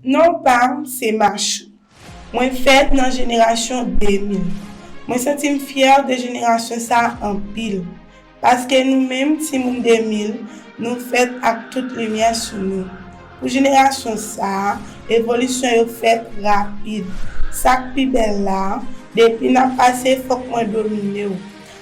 Non pam se Machou. Mwen fèt nan jenerasyon 2000. Mwen santi m fyè de jenerasyon sa anpil. Paske nou menm timoun 2000 nou fèt ak tout limyè sou nou. Pou jenerasyon sa, evolisyon yo fèt rapid. Sak pi bèl la, depi nap pase fòk mwen domine w.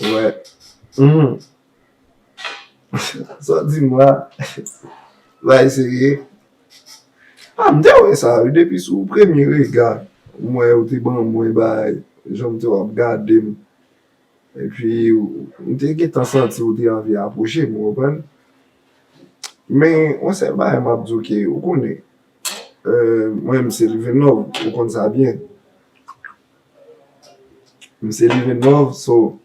Wè. Humm. Sa w di m la. Sa e serye? A m te wè sa wi depi sou premye rega m wè ou te ban mwen bay jan m te wè w ap gade m. Epi m te gentan santi ou te anvi apwoche m ou konprann. Men yon sèl bagay m ap di w ke ou konnen mwen m se Livinòv ou konn sa byen. M se livenov so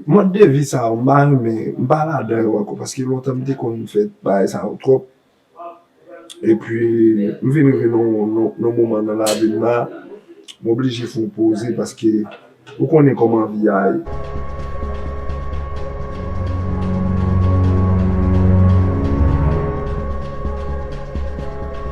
mòd de vi sa yo m pa renmen m pa ladan yo ankò paske lontan m te konn fè bagay sa yo twòp epi m vin rive nan yon moman nan lavi m la m oblije fè yon poze paske ou konnen kòman vi a ye.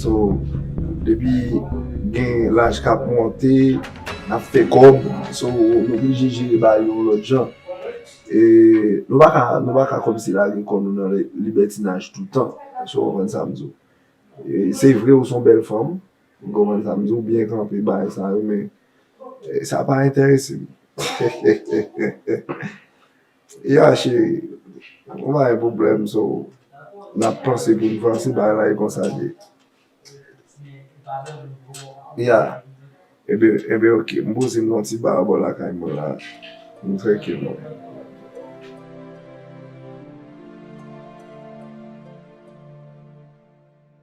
So depi gen laj kap monte nap fè kob so nou oblije jere bagay yo yon lot jan e nou paka nou paka komsi lage kò nou nan libètinaj toutan èske ou konprann sam di w se vre ou son bèl fanm M konprann sa, m di w byen kanpe bagay sa yo men sa pa enterese m hehehehe Ya cheri, nou pa gen pwoblèm so n ap panse pou n vanse bagay la e konsa l ye Ya, enben, enben ok, m poze m nan yon ti ba anba lakay mwen la m trèkil mwen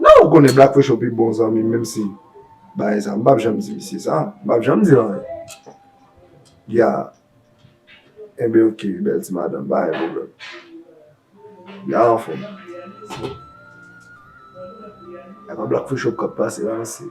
Nan ou konnen Black Fresho pi bon zanmi m menm si bagay sa m pap janm di misye sa, m pap janm di l anyen Ya, enben ok bèl ti madanm pa gen pwoblèm Ya anfòm E pa Black Fresho k ap pase la mesye.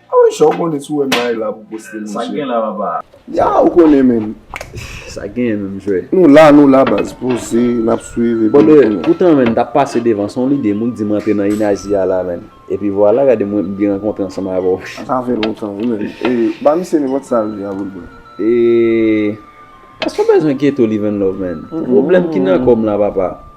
Awisha ou konnen si w wè m bay la pou poste mesye. Sak gen la papa. Ya ou konnen menm. Sak genyen menm jwè. Nou la nou la baz poze nap swiv epi nou konnen. Poutan menn tap pase devan son lide moun di m rantre nan inazi a la menn. Epi vwala gade mwen m vin rankontre ansanm avè w. Sa fè lontan wi menn. E ba misye nenpòt sa l vle a pou l ban. E Eske w bezwen keto live and love menn. Pwoblèm ki nan kò m la papa.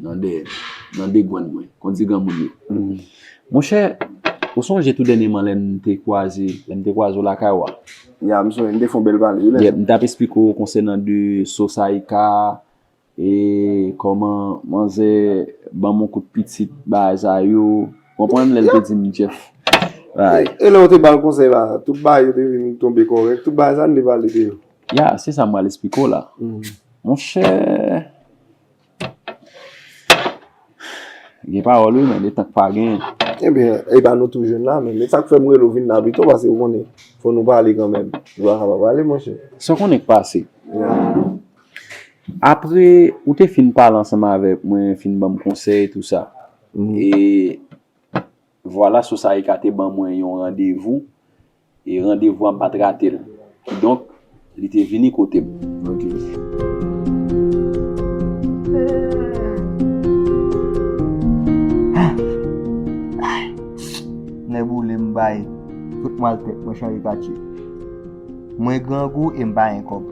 Nan dèyè m. Nan degwann mwen. Kondi granmoun yo. Monchè, ou sonje tou dènyeman lè n te kwaze, lè m te kwaze w lakay ou a? Ya, m sonje. Nou te fè yon bèl pale, wi lè sa. Yep, m t ap esplike w konsènan de So Saïka e kòman manzè ban m yon kout pitit bagay sa yo. Ou konprann lè l te di m Jeff. E lè ou te ba l konsèy la, tout bagay yo te vin tonbe kòrèk? Tout bagay sa n te pale de yo? Ya, se sa m pral esplike w la. Monchè. Gen pawòl wi men detan k pa gen. Ebyen e pa nou tou jwenn la menm. E sak fè m rele w vin la pito pase ou konnen fò nou pale kanmenm. Nou pa ka pa pale monchè. Sa w konnen k pase? Apre ou te fin pale ansanm avèk mwen, fin ban m konsèy tou sa. E vwala Sosaika te ban mwen yon randevou. E randevou a m pat rate l. Kidonk, li te vini kote m. Nèboule m bay tout maltèt mwen chanje katye. Mwen grangou e m pa gen kòb.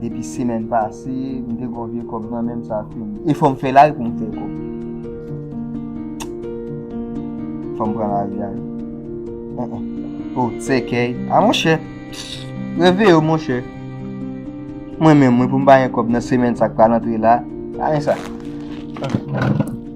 Depi semèn pase, m te kon vye kòb nan men m sa fini. E fò m fè lari pou m fè kòb. Fò m pran lari a. O, sèkèy. A monchè. Reveye w monchè. Mwen menm mwen pou m pa gen kòb nan semèn sa k pral antre la. A men sa.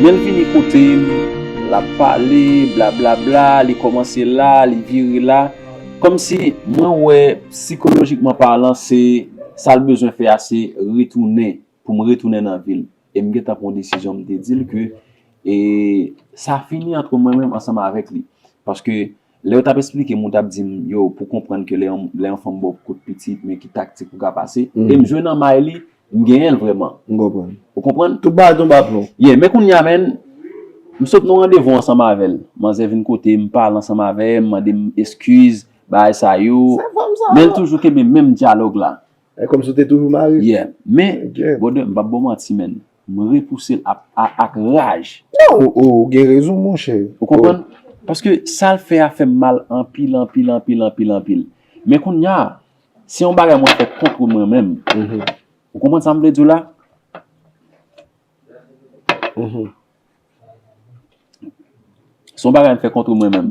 Men l vini kote m, l ap pale, blablabla, li kòmanse la, li vire la, kòmsi mwen wè sikolojikman palan se sa l bezwen fè a se retounen, pou m retounen nan vi l. E m gentan pran desizyon m te di l ke sa fini antre mwen menm ansanm avèk li. Paske. Lè yo tap esplike m ou tap di m yo pou konprann ke lè yon fanm ba w kout pitit men ki taktik ou ka pase e m jwe nan may li m genyen l vrèman. M konprann. Ou konprann? Tout bagay tonbe a plo. Yeah men kounye a menn m sot nan yon randevou ansanm avè l manzè vin kote m pale ansanm avè m mande m eskiz bagay sa yo Se fanm sa yo. men l toujou kenbe menm dyalòg la. E kòmsi w te toujou mare? Yeah men brother m pap ba w manti menn M repouse l a ak raj. Non, ou gen rezon monchè. Ou konprann? Paske sa l fè a fè m mal anpil, anpil, anpil, anpil, anpil. Men kounya, se yon bagay mwen fè contre mwen menm. Ou konprann sa m vle di w la? Se yon bagay m fè contre mwen menm.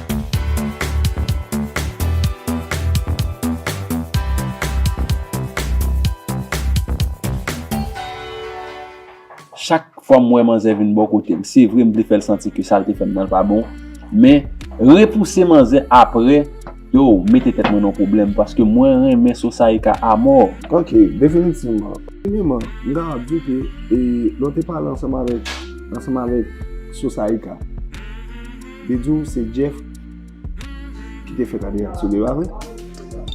Chak fwa m wè manzè vin bò kote m, se vre m vle fè l santi ke sa l te fè m nan pa bon, men repouse manzè apre, yow, m mete tèt mwen nan pwoblèm paske mwen renmen Sosaïka amò. Ok, definitivman. Premyeman, m ta ap di ke lè w te pale ansanm avèk Sosaïka. Li di w se Jeff ki te fè Cadillac sou deba vre?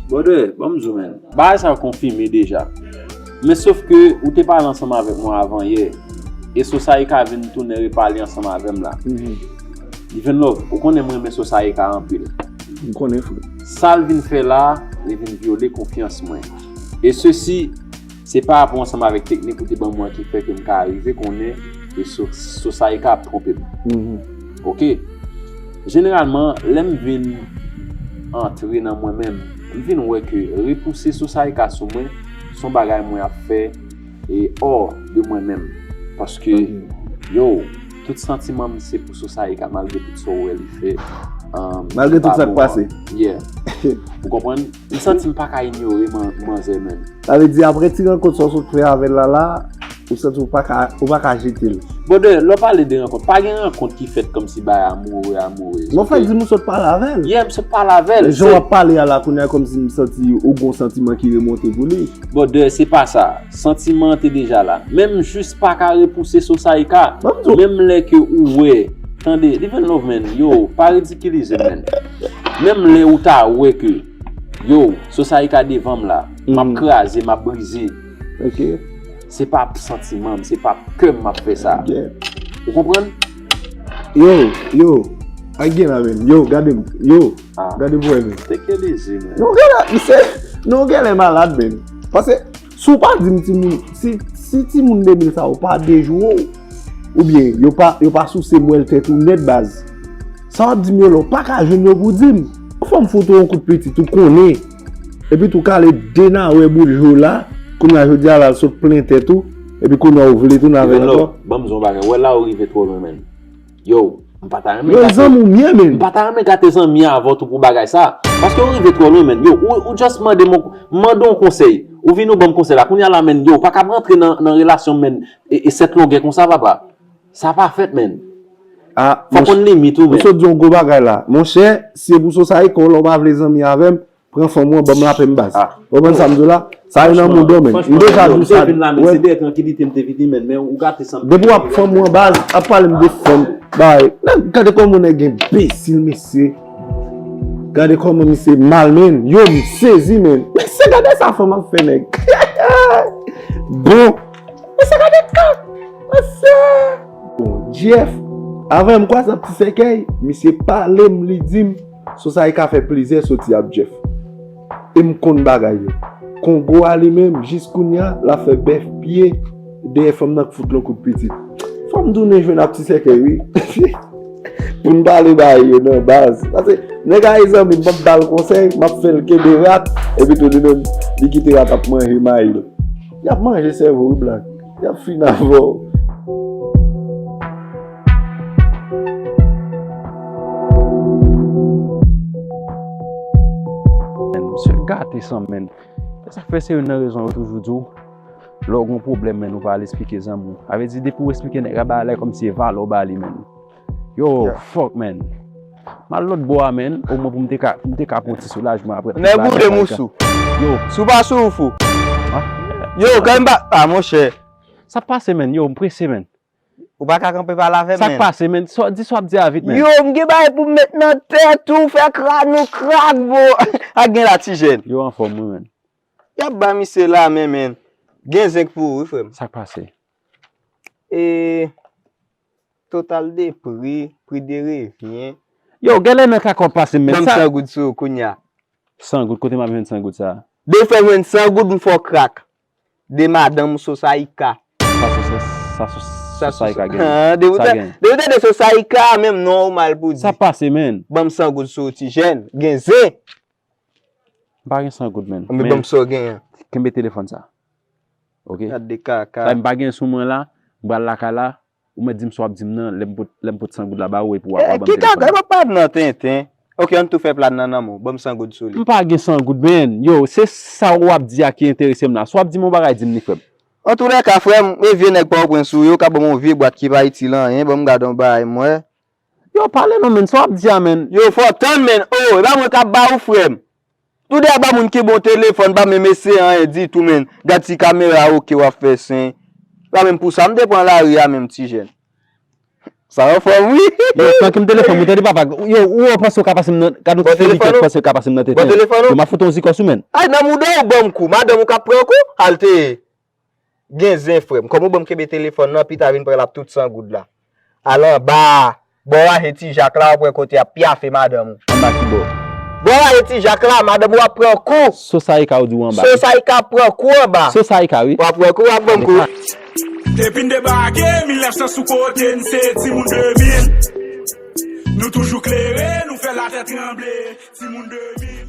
Brother, banm di w menn, bagay sa yo konfime deja. Men sof ke ou te pale ansanm avèk mwen avan yè, e Sosayika vin tounen repale ansanm avè m la. Divenlove, ou konnen m renmen Sosayika anpil. M konnen frè. Sa l vin fè la, li vin vyole konfyans mwen. E sesi. Se pa apre ansanm avèk teknik ou te ban mwen ki fè ke m ka arive konnen ke Sosaye ka ap twonpe m. Ok. Jeneralman, lè m vin antre nan mwen menm, m vin wè ke repouse Sosaye ka sou mwen s on bagay mwen ap fè e hors de mwen menm. Paske, yow, tout santiman m se pou Sosaye ka malgre tout sa w wè li fè, ki pa bon an. Malgre tout sa k pase. Yeah. Ou konprann? M santi m paka inyore manzè menm. Sa vle di apre ti rankont sa w sot fè avè l la la, ou santi w paka jete l. Brother, lè w pale de rankont, pa gen rankont ki fèt kòmsi bay amoureux, amoureuse ok. Non fè di m ou sot pale avè l. Yeah, m sot pale avè l. Men jan w ap pale a la kounya kòmsi m santi ou gon santiman ki remonte pou li. Brother, se pa sa. Santiman an te deja la. Men m jis paka repouse so sa e ka. Menm lè ke ou wè. Tande, live and love man. Yo, pa ridikilize m man. Menm lè ou ta wè ke Yow, Sosayika devanm la, map kraze, map brize, se pa p santiman m, se pa p kè m map fè sa. Ou konprann? Yow, yow, a gen la menm, yow, gade m, yow, gade vwè m. Teke leze menm. Non gen lè, misye, non gen lè malad menm. Pase. Si w pa di m ti moun, si ti moun 2000 sa yo pa dejwe w, ou byen yo pa souse mwèl tèt ou nèt baz, sa w ap di m yo la, w pa ka jwenn yo pou di m. Yon fwa m fout ou yon kout pitit, ou konnen, epi tou kale de nawè boul je w la, kounye a jodi a la sot plen tèt ou, epi kounye a ou vle tounen avè l ankò. Vannlò, ban m di w yon bagay, wè la ou rive twò lwen menn. Yow, m pa ta renmen gate. Yow zanmi w mye menn. M pa ta renmen gate zanmi avw tou pou bagay sa. Paske ou rive twò lwen menn. Yow, ou just mande m, m mande w konsèy. Ou vini ou banm konsèy la. Kounya la menn, yow, pa kab rantre nan relasyon menn. E 7 longè konsa papa. Sa pa fèt menn. Fò konn limit ou menn. Ou sot di yon gwo bagay la. Monchè, si e pou sosayte, kò w la ou pa vle zanmi avè m, Pran fanm ou an banm lapèm baz. Ou konprann sam diw la? Sa gen nan mond lan menn. M deja diw sa. Se dèyè trankilite m te vini menn men ou gate sam. Depi wap fanm ou an baz ap palem de fanm bay. Gade kòman yon nèg enbesil mesye. Gade kòman misye mal menn. Yo m sezi menn. Mesye gade sa fanm ap fè nèg. Bon. Mesye gade sa. Mesye. Bon Jeff. Avan m kwase ap ti sèkèy. Misye palem li dim. Sou sa e ka fè plizyè soti ap Jeff. E m konn bagay yo. Kongo a li menm, jis kounya, l ap fè bèf pye dèyè fanm nan k fout l on kout pitit. Fò m tounen jwenn ap ti sèkèy wi. Pou n pale bagay yo nan baz. Pase, nèg a e zanmi m, m ap ba l konsèy, m ap fè l kenbe rat, epitou li menm, li kite rat ap manje mayi l. Y ap manje sèvo wi black. Yap fin avèw. Gate san men E sa fè se yon nan rezon yo toujou di w Lè w gen yon pwoblèm men ou pa al esplike zanmi w Sa vle di depi w esplike nèg la ba lè kòm si e valè w ba li men Yo fuck man M al lòt bò a man O mwen pou m te ka M te ka pran yon ti soulajman aprè tout bagay sa Nèg ou de m ou sou Yo Si w pa sou ou fou Yo kèm pa Ah monchè Sa k pase man Yo m prese man Ou pa ka kanpe pa lave man Sa k pase man Di sa w ap di a vit man Yo m gen bagay pou m met nan tèt ou fè kran ou krak bro Sa k gen la ti jèn Yo anfòm wi man Y ap bay misye la men man Gen zenk pou ou wi frè m Sa k pase Eee. Total de pri, pri de revyen. Yow gèlè nan ka kòm pase m men sa. Banm 100 goud sou ou kounya. 100 goud kote map jwenn 100 goud sa. Dew fèm jwenn 100 goud m fèw krak. De madanm ou Sosaïka. Sa sou sa sou Sosaïka genyen. Depi w tande Sosaïka menm non ou mal pou di. Sa pase menn. Banm 100 goud sou ou ti jèn. Gen zen. M pa gen 100 goud menn. Anben banm saw gen an. Kenbe telefòn sa. Ok. Gad de kaka. Sa m pa gen sou mwen la, m pral lakay la, ou mèt dim sa wap dim nan lèm pot 100 goud la ba ou epi wap banm telefòn nan. Ki kaka, epa pale nan tenten. Ok ann tou fè plan nan nan menw, banm 100 goud sou li. M pa gen 100 goud menn. Yo, se sa ou ap di a ki enterese m la. Si wap dim yon bagay dim li frè m. Antoulèka frè m, e vye nèg pòtoprens ou ye, ou ka banm yon vye bwat ki pa itil anyen, banm gad yon bagay m wè. Yow pale non menn sa wap di a menn. Yow fò tann menn oo epa mwen kap ba ou frèm tou de a ba moun ki bon telefòn pa menm eseye anyen ditou menn gad ti kamera a ok wap fè sen epa menm pou sa m te pran lari a menm ti jèn sa anfòm wi Yow tank m telefòn mwen tande papa yow ou wè ou panse ou ka pase m nan gad yon ti foli kèt panse ou ka pase m nan tenten yow map fout yon zikòs wi menn. Ay nan mouda ou banm kou madanm ou kap pran kou halte Gen zen frèm. Kòman ou banm kenbe telefòn lan pita vin pranl ap tout san goud la. Al anba a. Bon raje ti jak la wap wè kote yap pyafe madanm ou. Anba kibò? Bon raje ti jak la madanm ou ap pran kou. Sos saïka ou di ou anba wi. Sos saïka ap pran kou anba. Sos saïka wi. Wap wè kou wap banm kou. Depi n debake 1900 sou kote n se timoun 2000 Nou toujou klere nou fè latè tranble timoun 2000.